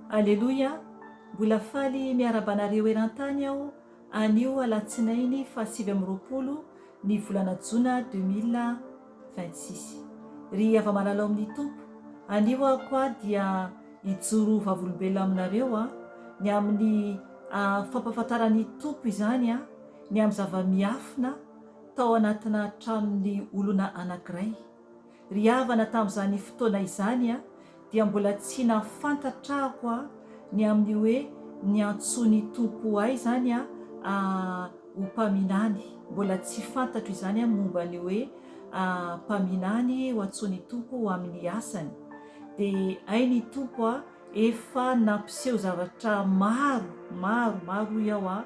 Aleloia, mbola faly miaraba anareo eran-tany aho anio alatsinainy fahasivy amby roapolo ny volana jona deux mille vingt six. Ry hava-malala ao amin'ny Tompo, anio aho koa dia hijoro ho vavolombelona aminareo a! ny amin'ny fampahafantaran'ny Tompo izany a! ny amin'ny zava-miafina tao anatina tranon'ny olona anankiray. Ry havana tamin'izany fotoana izany a, dia mbola tsy nahafantatra aho a, ny amin'ny hoe ny antsoin'ny Tompo ahy izany a, a, ho mpaminany, mbola tsy fantatro izany a, momba ny hoe, a, mpaminany ho antsoin'ny Tompo ho amin'ny asany. Dia hay ny Tompo a, efa nampiseho zavatra maro, maro, maro hoy aho a,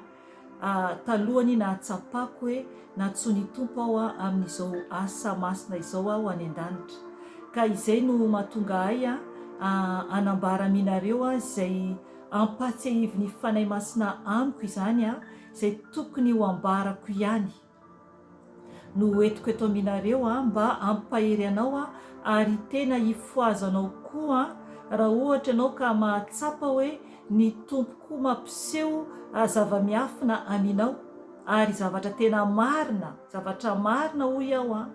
Talohan'ny nahatsapako hoe nantsoin'ny Tompo aho amin'izao asa masina izao aho any an-danitra, ka izay no mahatonga ahy hanambara aminareo izay ampahatsiahivin'ny Fanahy Masina amiko izany, izay tokony ho ambarako ihany. no hoentiko eto aminareo mba hampahery anao ary tena hifohaza anao koa raha ohatra ianao ka mahatsapa hoe ny Tompo koa mampiseho zava-miafina aminao ary zavatra tena marina zavatra marina hoy aho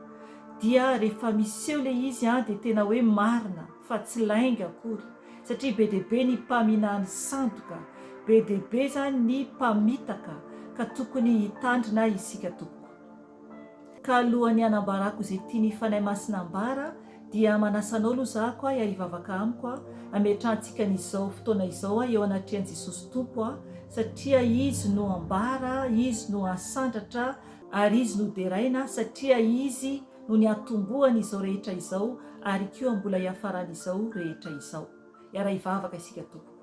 dia rehefa miseho ilay izy dia tena hoe marina fa tsy lainga akory satria be dia be ny mpaminany sandoka, be dia be izany ny mpamitaka ka tokony hitandrina isika tompoko. Ka alohan'ny hanambarako izay tian'ny Fanahy Masina hambara dia manasa anao aloha za ko ahy hivavaka amiko a, hametrahantsika an'izao fotoana izao ahy eo anatrehan'i Jesosy Tompo a, satria Izy no hambara, Izy no hasandratra ary Izy no ho deraina satria Izy no niatombohan' izao rehetra izao ary koa mbola hiafaran' izao rehetra izao. Hiara hivavaka isika tompoko.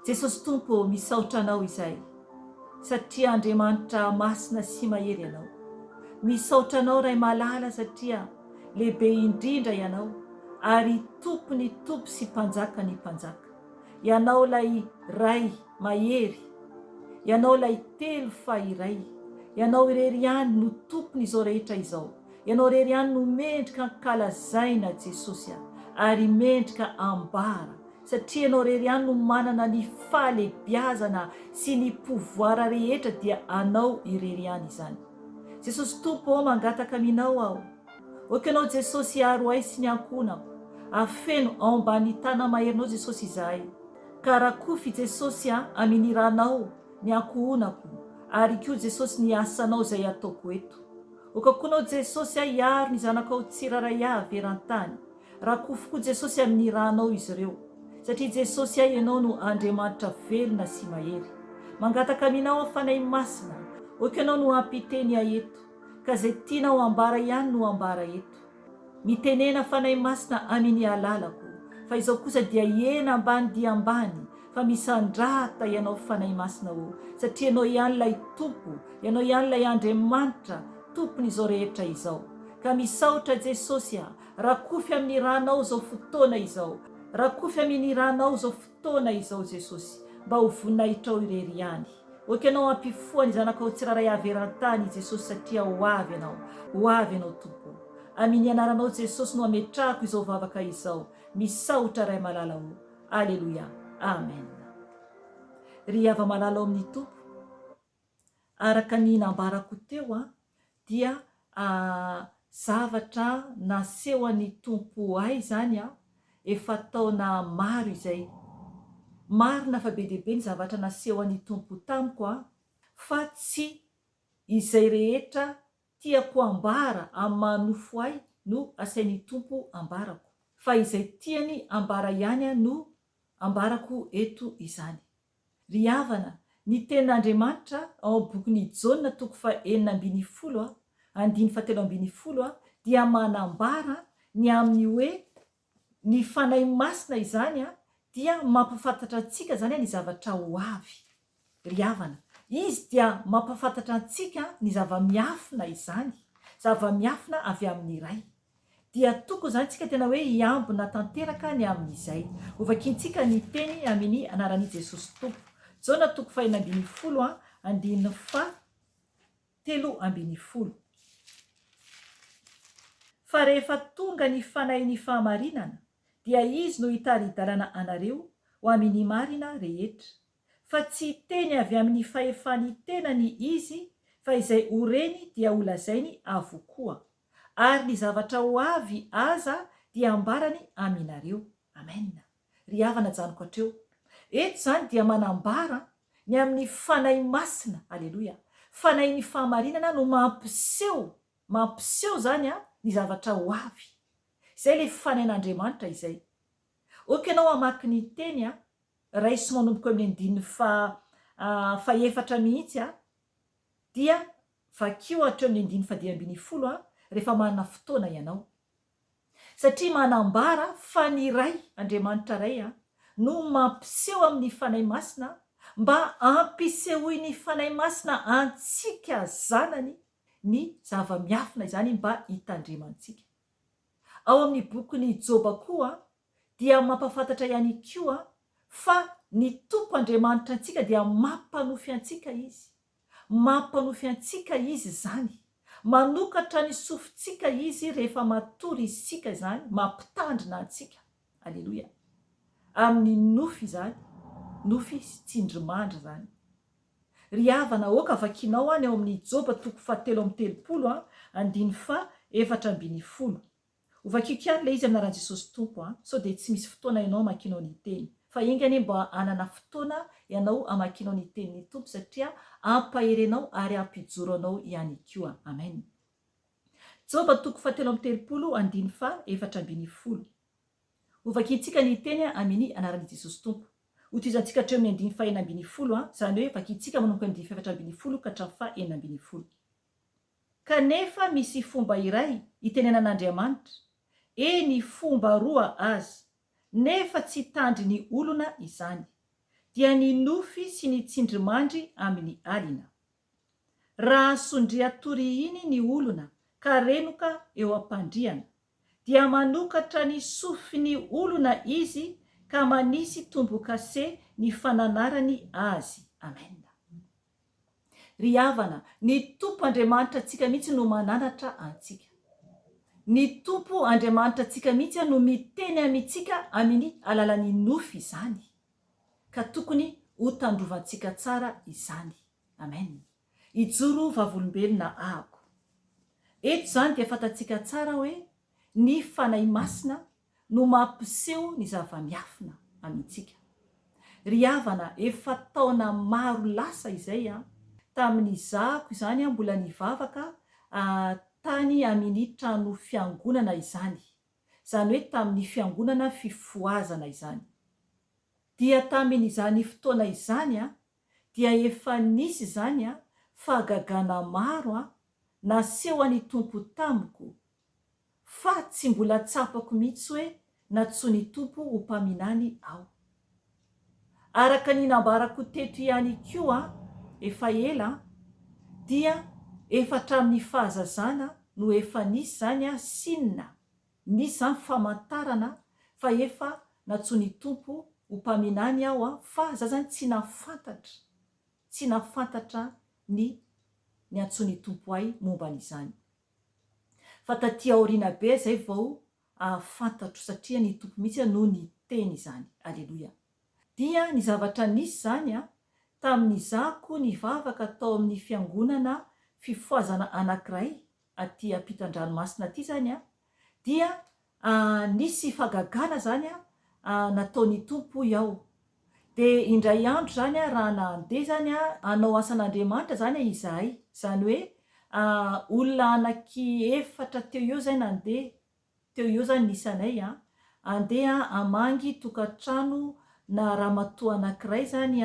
Jesosy Tompo ô, misaotra Anao izay satria Andriamanitra masina sy mahery Ianao. Misaotra Anao Ray malala satria lehibe indrindra Ianao ary Tompon' ny tompo sy Mpanjakan' ny mpanjaka. Ianao ilay Ray mahery, Ianao ilay telo fa iray, Ianao irery ihany no tompon' izao rehetra izao, Ianao irery ihany no mendrika ankalazaina Jesosy a, ary mendrika ambara, satria Ianao irery ihany no manana ny fahalebiazana sy ny pouvoir rehetra dia Anao irery ihany izany. Jesosy Tompo ô mangataka aminao aho. Ok anao Jesosy hiaro ahy sy ny ankohonako afeno ao ambany tana maherinao Jesosy izahay ka rakofy i Jesosy a amini ranao ny ankohonako ary ko Jesosy ny asanao izay ataoko eto ok ko anao Jesosy a hiaro ny zanakao tsiraray a averantany rakofy ko Jesosy amini ranao izy ireo satria Jesosy a ianao no Andriamanitra velona sy mahery mangataka aminao a Fanahy Masina ok anao no ampiteny ahy eto. Ka zay tianao ambara ihany no ambara eto. Mitenena Fanahy Masina aminy alalako fa izao kosa dia hiena ambany dia ambany fa misandrata ianao Fanahy Masina ô satria ianao ihany ilay Tompo ianao ihany ilay Andriamanitra Tompon izao rehetra izao ka misaotra Jesosy a rakofy aminy ranao zao fotoana izao rakofy aminy ranao zao fotoana izao Jesosy mba ho voninahitrao irery ihany ok anao hampifoha ny zanakao tsiraray avy erantany Jesosy satria ho avy ianao ho avy ianao Tompo o Amin anaranao Jesosy no ametrahako izao vavaka izao misaotra Ray malala o Aleloia Amen Ry hava malala ao amin Tompo araka ny nambarako teo dia zavatra nasehon'ny Tompo ahy izany efa taona maro izay. Marina fa be dia be ny zavatra nasehon'ny Tompo tamiko fa tsy izay rehetra tiako hambara amin'ny maha nofo ahy no asain'ny Tompo ambarako fa izay tiany ambara ihany no ambarako eto izany. Ry havana, ny tenin'Andriamanitra ao amin'ny bokin'i Jaona toko fahenina ambin'ny folo a, andininy fahatelo ambin'ny folo a, dia manambara ny amin'ny hoe ny Fanahy Masina izany a, dia mampafantatra antsika izany a ny zavatra ho avy. Ry havana, Izy dia mampafantatra antsika ny zava-miafina izany, zava-miafina avy amin'ny Ray. dia tokony izany tsika tena hoe hiambina tanteraka ny amin' izay hovakiantsika ny teny amin' ny anaran' i Jesosy Tompo. Jaona toko fahenina ambin'ny folo an, andininy fah telo ambin'ny folo. Fa rehefa tonga ny Fanahin' ny fahamarinana, dia Izy no hitari-dalana anareo ho amin' ny marina rehetra. Fa tsy hiteny avy amin' ny fahefan' ny tenany Izy, fa izay ho reny dia holazainy avokoa. Ary ny zavatra ho avy aza dia ambarany aminareo. Amena. Ry havana janiko hatreo. Eto izany dia manambara ny amin'ny Fanahy Masina. Aleloia. Fanahin'ny fahamarinana no mampiseho, mampiseho izany an, ny zavatra ho avy. Izay ilay Fanahin'Andriamanitra izay. Ok ianao hamaky ny Teny an, raiso manomboka eo amin'ny andininy faha, faha efatra mihitsy an, dia Vakio hatreo ny andininy fadimy ambin'ny folo a rehefa manana fotoana ianao. Satria manambara fa ny Ray, Andriamanitra Ray, no mampiseho amin'ny Fanahy Masina mba hampisehoin'ny Fanahy Masina antsika zanany ny zava-miafina izany mba hitandremantsika. Ao amin'ny bokin'i Joba koa dia mampafantatra ihany koa fa ny Tompo Andriamanitra antsika dia mampanofy antsika Izy. Mampanofy antsika Izy izany. Manokatra ny sofintsika Izy rehefa matory isika izany, mampitandrina antsika. Aleloia. Amin'ny nofy izany, nofy sy tsindrimandry izany. Ry havana aoka vakinao any ao amin'ny Joba toko fahatelo amby telopolo, andininy faha efatra ambin'ny folo. Ho vakiko ihany ilay izy amin'aran'i Jesosy Tompo an! Sao dia tsy misy fotoana ianao hamakianao ny Teny. Fa enga anie mba hanana fotoana ianao hamakianao ny Tenin'ny Tompo satria hampahery anao ary hampijoro anao ihany koa. Amen. Joba toko fahatelo amby telopolo, andininy faha efatra ambin'ny folo. Ho vakintsika ny Teny an! Amini anaran'i Jesosy Tompo. Ho tohizantsika hatreo amin'ny andininy faha enina ambin'ny folo an! Izany hoe vakintsika manomboka ny andininy faha efatra ambin'ny folo ka hatramin'ny faha enina ambin'ny folo. Kanefa misy fomba iray itenenan'Andriamanitra, eny fomba roa aza, nefa tsy tandry ny olona izany, dia ny nofy sy ny tsindrimandry amin'ny alina. Raha sondria toriiny ny olona ka renoka eo am-pandriana, dia manokatra ny sofin'ny olona izy ka manisy tombo-kase ny fananarany azy. Amen. Ry havana, ny Tompo Andriamanitra antsika mihitsy no mananatra antsika. Ny Tompo Andriamanitra antsika mihitsy no miteny amintsika amin'ny alalan'ny nofy izany, ka tokony hotandrovantsika tsara izany. Amen. Hijoro vavolombelona ahako. Eto izany dia fantatsika tsara hoe ny Fanahy Masina no mampiseho ny zava-miafina amintsika. Ry havana, efa taona maro lasa izay an, tamin'izahako izany an, mbola nivavaka tany amin'i trano fiangonana izany, izany hoe tamin'ny fiangonana fifohazana izany. Dia tamin'izany fotoana izany an, dia efa nisy izany an, fahagagana maro an, nasehon'ny Tompo tamiko Fa tsy mbola tsapako mihitsy hoe nantsoin' i Tompo ho mpaminany aho. Araka ny nambarako teto ihany koa efa ela dia efa hatramin' ny fahazazana no efa nisy izany signe, nisy izany famantarana fa efa nantsoin' i Tompo ho mpaminany aho fa za izany tsy nahafantatra, tsy nahafantatra ny niantsoin' i Tompo ahy momba an' izany. fa taty aoriana be zay vao ahafantatro satria ny Tompo mihitsy no niteny izany. Aleloia. Dia ny zavatra nisy zany a, tamin'izaho koa nivavaka tao amin'ny fiangonana fifohazana anakiray aty ampitan-dranomasina aty zany a, dia Nisy fagagana izany nataon'ny Tompo, hoy aho. Dia indray andro izany raha nandeha izany hanao asan'Andriamanitra izany izahay, izany hoe olona anaky efatra teo eo izay nandeha, teo eo izany ny isanay an, handeha hamangy tokantrano na ramatoa anankiray izany,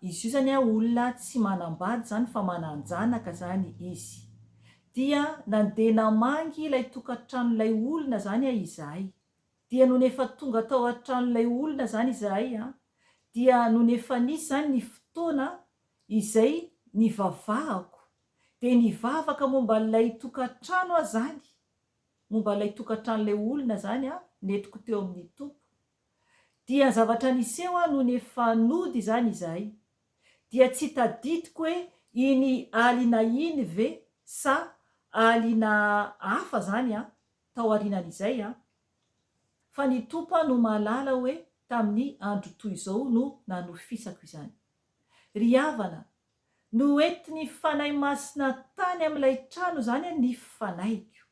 izy io izany olona tsy manam-bady izany fa manan-janaka izany izy. Dia nandeha namangy ilay tokantranon'ilay olona izany an izahay. Dia nony efa tonga tao an-tranon'ilay olona izany izahay an, dia nony efa nisy izany ny fotoana izay nivavahako, dia nivavaka momba an'ilay tokantrano aho izany, momba an'ilay tokantranon'ilay olona izany an, nentiko teo amin'ny Tompo. Dia zavatra niseho aho nony efa nody izany izahay. Dia tsy tadidiko hoe iny alina iny ve sa alina hafa izany an, taorianan'izay an. Fa ny Tompo aho no mahalala hoe tamin'ny andro toy izao no nanofisako izany. Ry havana, noentin'ny Fanahy Masina tany amin'ilay trano izany ny fanaiko.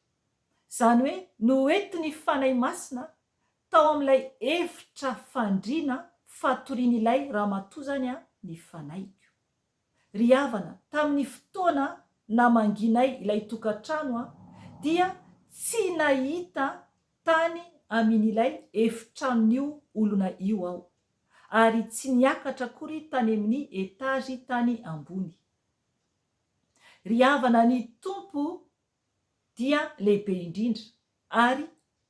Izany hoe noentin'ny Fanahy Masina Tao amin'ilay efitra fandriana fatorian'ilay ramatoa izany ny fanahiko. Ry havana, tamin'ny fotoana namangianay ilay tokantrano dia tsy nahita tany amin'ilay efitranon'io olona io aho, ary tsy niakatra akory tany amin'ny etazy tany ambony. Ry havana, ny Tompo dia lehibe indrindra ary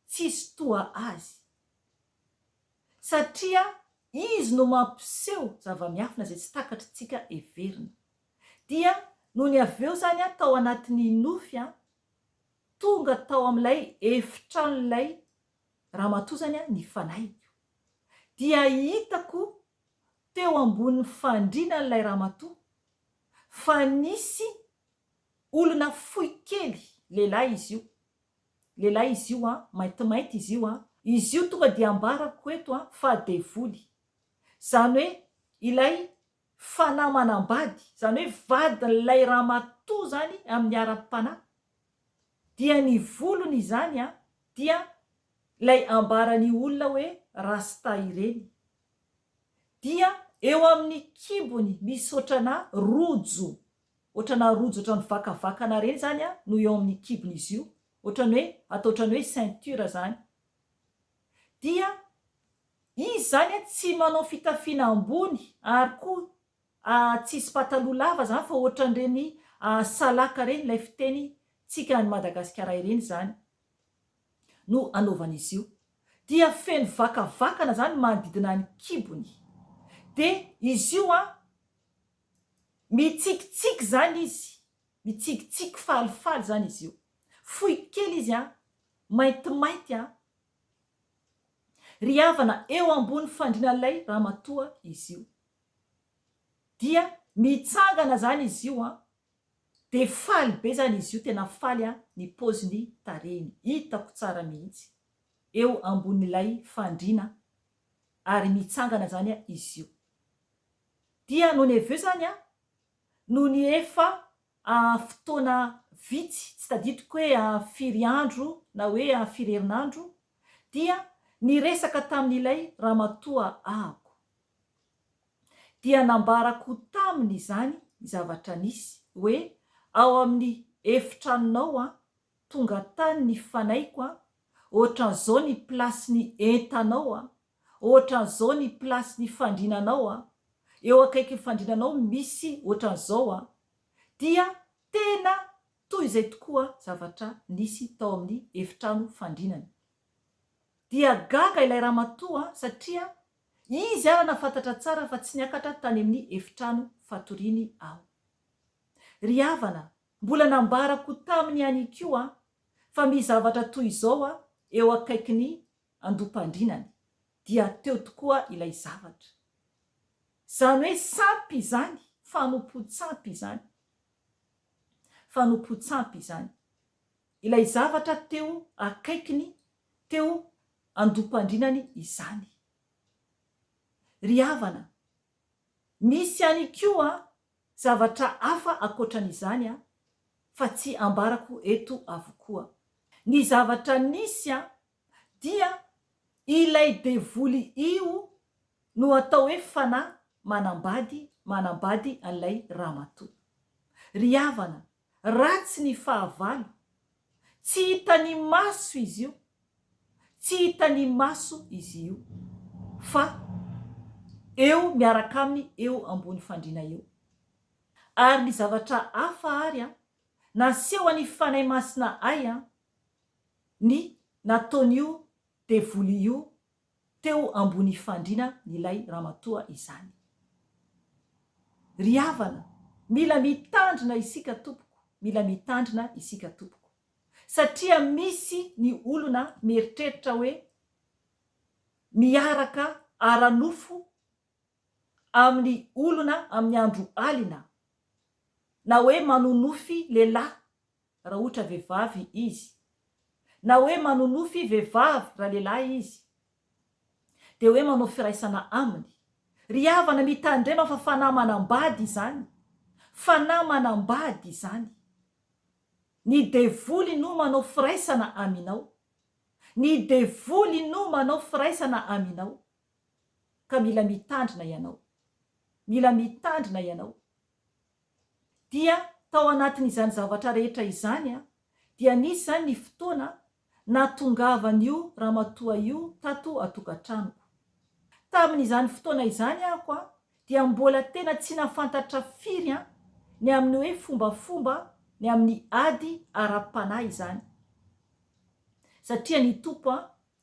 tsisy toa azy. Satria izy no mampiseho zava-miafina izay tsy takatr'tsika heverina. Dia nony avy eo izany aho tao anatin'ny nofy, tonga tao amin'ilay efitranon'ilay ramatoa izany ny fanahiko. Dia hitako teo ambonin'ny fandriana an'ilay ramatoa fa nisy Olona fohy kely lehilahy izy io. Lehilahy izy io an, maintimainty izy io an. Izy io tonga dia ambarako eto an fa devoly. Izany hoe ilay fanahy manambady, izany hoe vadin'ilay ramatoa izany amin'ny ara-panahy. Dia ny volony izany an dia ilay ambaran'ny olona hoe rasta ireny. Dia eo amin'ny kibony misy ohatranà rojo Otrana rojo otrany mivakavakana reny zany a no eo aminy kibony izy io otrany hoe atao otrany hoe ceinture zany dia izy zany a tsy manao fitafiana ambony ary koa a tsisy pataloha lava zany fa otrany reny a salaka reny ilay fiteny tsika any Madagasikara ireny zany no anaovany izy io dia feno vakavakana zany manodidina ny kibony de izy io a Mitsikitsiky izany izy, mitsikitsiky falifaly izany izy io. Fohy kely izy an! Maintimainty an! Ry havana, eo ambony fandrian'ilay ramatoa izy io. Dia mitsangana izany izy io an! Dia faly be izany izy io, tena faly an! Ny paoziny, tarehiny, hitako tsara mihitsy. Eo ambonin'ilay fandriana, ary mitsangana izany izy io. Dia noho ny avy eo izany an, noho ny efa fotoana vitsy, tsy tadidiko hoe firy andro na hoe firy herinandro, dia niresaka tamin'ilay ramatoa ahako. Dia nambarako taminy izany zavatra nisy, hoe ao amin'ny efitranonao an, tonga tany ny fanaiko an, ohatran'izao ny plasin'ny entanao an, Ohatran'izao ny place ny fandriana anao a, eo akaikin'ny fandriana anao misy ohatran'izao a, dia tena toy izay tokoa zavatra nisy tao amin'ny efitrano fandrinana. Dia gaga ilay ramatoa satria izy ara nafantatra tsara fa tsy niakatra tany amin'ny efitrano fatoriany aho. Ry havana, mbola nambarako taminy ihany koa fa misy zavatra toy izao a, eo akaikin'ny andoam-pandrinany dia teo tokoa ilay zavatra. Izany hoe sampy izany, fanompoan-tsampy izany. Fanompoan-tsampy izany. Ilay zavatra teo akaikiny, teo andoam-pandrinany izany. Ry havana, misy ihany koa zavatra hafa ankoatran'izany fa tsy ambarako eto avokoa. Ny zavatra nisy dia ilay devoly io no atao hoe fanahy manambady manambady an'ilay ramatoa. Ry havana, ratsy ny fahavalo, tsy hitan'ny maso izy io, tsy hitan'ny maso izy io fa eo miaraka aminy eo ambony fandriana eo. Ary ny zavatra hafa ary an, naseho an'i Fanahy Masina ahy an, ny nataon'io devoly io teo ambony fandriana n'ilay ramatoa izany. Ry havana, mila mitandrina isika tompoko, mila mitandrina isika tompoko. Satria misy ny olona mieritreritra hoe miaraka ara-nofo amin'ny olona amin'ny andro alina, na hoe manonofy lehilahy raha ohatra vehivavy izy, na hoe manonofy vehivavy raha lehilahy izy, dia hoe manao firaisana aminy. Ry havana, mitandrema fa fanahy manambady izany. Fanahy manambady izany. Ny devoly no manao firaisana aminao. Ny devoly no manao firaisana aminao. Ka mila mitandrina ianao. Mila mitandrina ianao. Dia tao anatin'izany zavatra rehetra izany dia nisy izany ny fotoana nahatongavan'io ramatoa io tato an-tokantranoko. Tamin'izany fotoana izany ahoko dia mbola tena tsy nahafantatra firy ny amin'ny hoe fombafomba ny amin'ny ady ara-panahy izany. Satria ny Tompo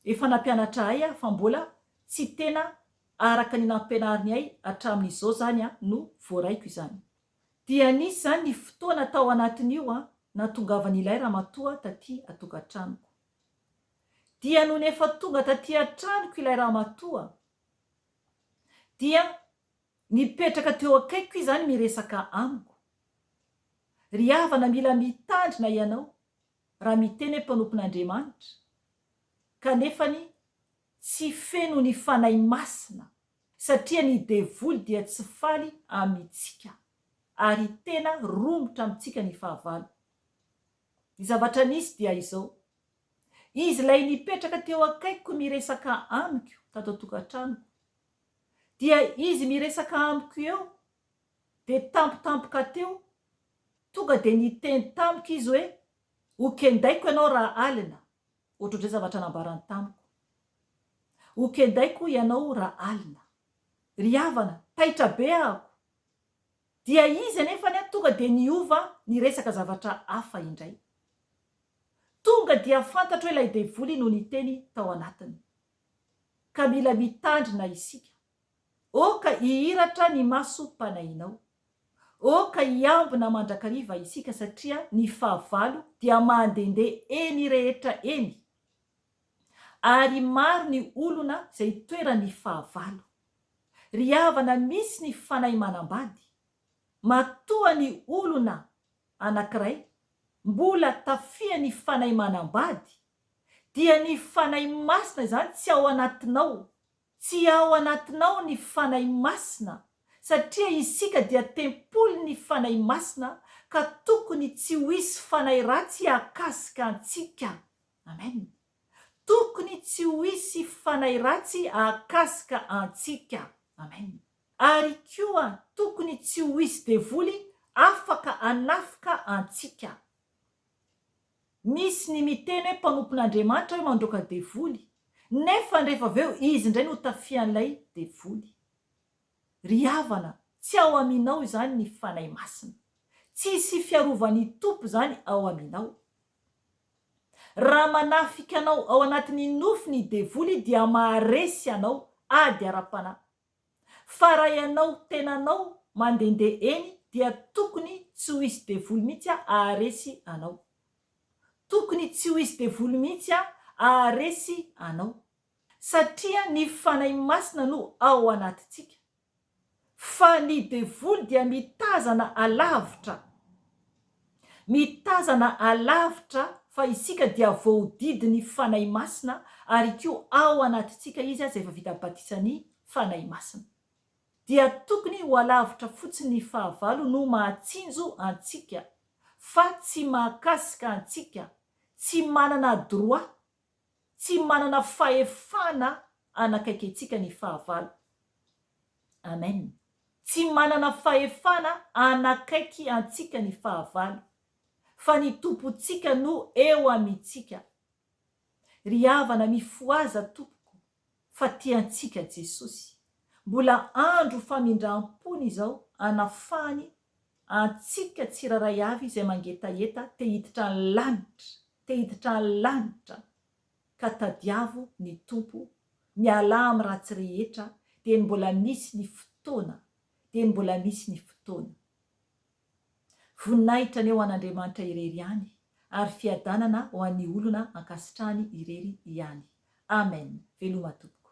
efa nampianatra ahy fa mbola tsy tena araka ny nampianariny ahy hatramin'izao izany no voaraiko izany. Dia nisy izany ny fotoana tao anatin'io nahatongavan'ilay ramatoa taty an-tokantranoko. Dia nony efa tonga taty an-tranoko ilay ramatoa dia nipetraka teo akaikiko izany miresaka amiko. Ry havana mila mitandrina ianao raha miteny hoe mpanompon'Andriamanitra kanefany Tsy feno ny Fanahy Masina satria ny devoly dia tsy faly amintsika ary tena romotra amintsika ny fahavalo. Ny zavatra nisy dia izao, izy ilay nipetraka teo akaikiko miresaka amiko tato an-tokantranoko, dia izy miresaka amiko eo dia tampotampoka teo, tonga dia niteny tamiko izy hoe, Hokendaiko ianao rahalina. Ohatr'izay zavatra nambarany tamiko. Ho kendaiko hoy ianao raha alina. Ry havana, taitra be ahako. Dia izy anefany an tonga dia niova niresaka zavatra hafa indray. Tonga dia fantatro hoe ilay devoly no niteny tao anatiny. Ka mila mitandrina isika. Oh ka hihiratra ny masom-panahinao. Oh ka hiambina mandrakariva isika satria ny fahavalo dia mandehandeha eny rehetra eny. Ary maro ny olona izay itoeran'ny fahavalo. Ry havana misy ny fanahy manambady, matoa ny olona anankiray mbola tafihan'ny fanahy manambady dia ny Fanahy Masina izany tsy ao anatinao. Tsy ao anatinao ny Fanahy Masina, satria isika dia tempolin'ny Fanahy Masina, ka tokony tsy ho hisy fanahy ratsy hahakasika antsika. Amen. Tokony tsy ho hisy fanahy ratsy hahakasika antsika. Amen. Ary koa tokony tsy ho hisy devoly afaka hanafika antsika. Misy ny miteny hoe mpanompon'Andriamanitra hoe mandroaka devoly, nefa rehefa avy eo izy indray no tafian'ilay devoly. Ry havana, tsy ao aminao izany ny Fanahy Masina. Tsy hisy fiarovan'ny Tompo izany ao aminao. Raha manafika anao ao anatin'ny nofo ny devoly dia maharesy anao ady ara-panahy. Fa raha ianao tenanao mandehandeha eny dia tokony tsy ho izy devoly mihitsy aharesy anao. Tokony tsy ho izy devoly mihitsy aharesy anao. Satria ny Fanahy Masina no ao anatintsika. Fa ny devoly dia mitazana alavitra. Mitazana alavitra fa isika dia voahodidin'ny Fanahy Masina ary koa ao anatintsika Izy aza efa vita batisan'ny Fanahy Masina. Dia tokony ho alavitra fotsiny ny fahavalo no mahatsinjo antsika fa tsy mahakasika antsika, tsy manana droit tsy manana fahefana hanakaiky antsika ny fahavalo. Amen. Tsy manana fahefana hanakaiky antsika ny fahavalo, fa ny Tompontsika no eo amintsika. Ry havana, mifohaza tompoko fa tiantsika Jesosy. Mbola andro famindram-pony izao hanafahany antsika tsirairay avy izay mangetaheta te hiditra ny lanitra Te hiditra lanitra ka tadiavo ny Tompo mialà am ratsy rehetra dieny mbola misy ny fotoana dieny mbola misy ny fotoana. Voninahitra anie ho an Andriamanitra irery ihany ary fiadanana ho an'ny olona ankasitrahany irery ihany. Amen veloma tompoko.